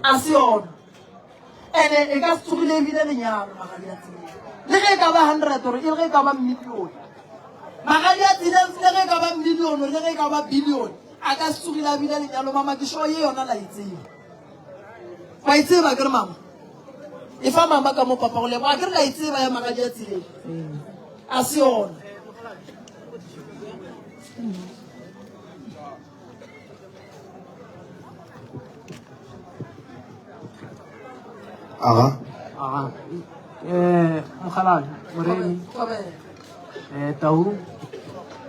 a se yona ene e ka se tsogile ebile lenyalo magadi a tsile le ge e ka ba hundred or e ge e ka ba millione magadi a tsile le ge e ka ba millione le ge e ka ba billione a ka se tsogile a bile lenyalo mama ke sure ye yona la e tseba wa e tseba ke re mama e fa mama ka mo papa go leboga ke re la e tseba ya magadi a tsileng a se yona Aha. Aha. Eh, mokgalane, moremi. Eh, tau.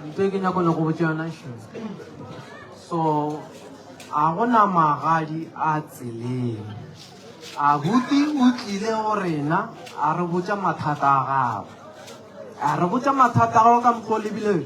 Ntho e ke nyako nyako botse yona sho. So, a gona magadi a tseleng. A buti o tlile go rena, a re botsa mathata a gago. A re botsa mathata a gago ka mokgwa o lebileng.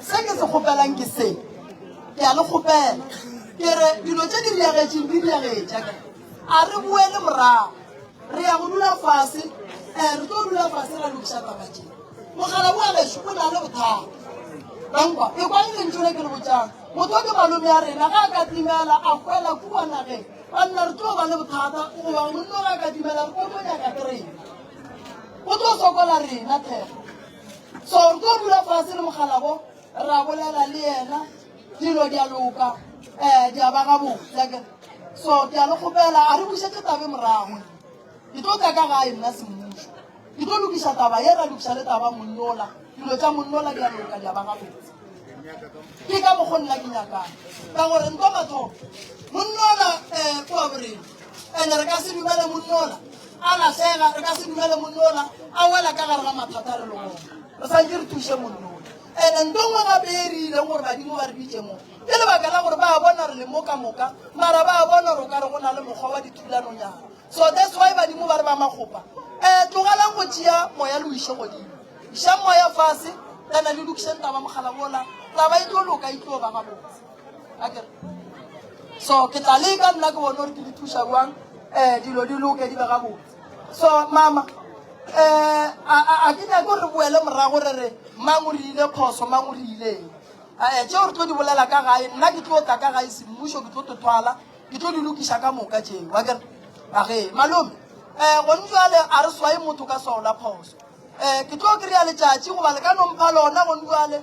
Se ke se kgopelang ke se, ke a le kgopela ke re dilo tše di diagetšeng di diagetša ke a re boele morago re ya go dula fase um re tlo dula fase ra lokiša taba tše mogala boa geso o na le bothata bankwa e kwa lentšole ke le botšang motho ke malome ya rena ga a ka timela a kwela kua nageng banna re tlo ba le bothata goba monno ga a ka timela re tlo mo nyaka ke rena o tlo sokola rena thega so re tlo dula fase le mokgalabo ra bolela le yena dilo di a loka um di a ba gabotse so ke a le kgopela a re bušetse tabe morago ke tlo tla ka gae nna semmušo ke tlo lokiša taba ye ra lokiša le taba monnola dilo tša monnola di a loka di a ba gabotse ke ka mokgo nna ke nyakang ka gore nto mathomo monnola um eh, kua borena and-e re ka se dumele monnola A lahlega, re ka se dumele monnola a wela ka gare ga mathata re le gona. Re santše re thuše monnola. Ene nto nngwe gape e re ileng gore badimo ba re bitše mo, ke lebaka la gore ba a bona re le mo ka moka, mara ba a bona gore o ka re go na le mokgwa wa dithulanonyana. So that's why badimo ba re ba makgopa. Eh, tlogelang go tšea moya le o iše godimo. Išang moya fase, then le lokišeng taba mogala wola, taba e tlo loka, e tlo ba gabotse. so ke tla leka nna ke bone gore ke le thuša jwang um dilo di loke di be gabotse so mama um a ke nyake gore re boele morago re re mang o re ile phoso mang o re ileng ee eh, tšeo re tlo di bolela ka gae nna ke tlo tla ka gae semmušo ke tlo tothwala ke tlo di lokiša ka moka tšeo wa kere age malome um eh, gone jale a re swae motho ka swao la phoso um eh, ke tlo kry-a letšatši goba le ka nompha lona gone jale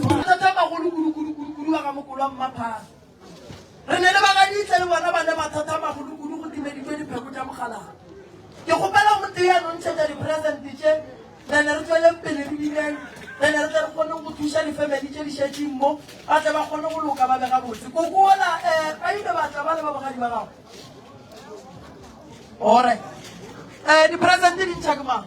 Mathata a magolo kudu-kudu-kudu-kudu a ga mokolo wa mmaphaga. Re ne le bagaditse le bona ba le mathata a magolo kudu go timeditswe dipheko tša mogalaga. Ke kgopela o motee a no ntšhetša dipresente tše, re ne re tšweleng pele re bineng, re ne re tle re kgoneng go thuša difemeli tše di šetšeng mo, ba tle ba kgone go loka ba be gabotse. Koko ola, um, ba ile ba tla ba le ba bogadi ba gago. All right. Um, dipresente di ntšha ke mang?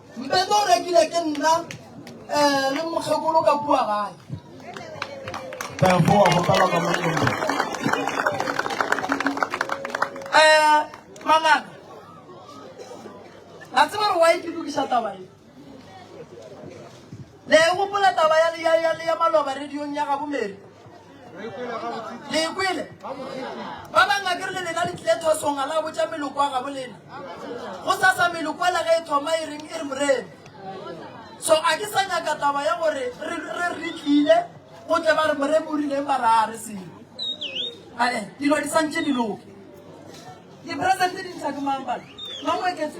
Mpete o rekile ke nna eh, le mokgekolo ka kua gae. Therefore, go kala ka mongwe. Eh, mangana. La tseba re wa e ke lokisa taba e. Le e gopola taba ya, ya, ya, ya maloba radiong ya gabo Mary? Le e kwele? Ba banga ke re le lena le tlile thosong a la botša meloko a gabo lena. Go sasa meloko ela ge e thoma e reng e re morena. So a ke sa nyaka taba ya gore re re re tlile go tle ba re moremo o rileng ba ra re selo. Ae, dilo di santše di loke. Di-present di ntsha ke mang bana? Mang o eketse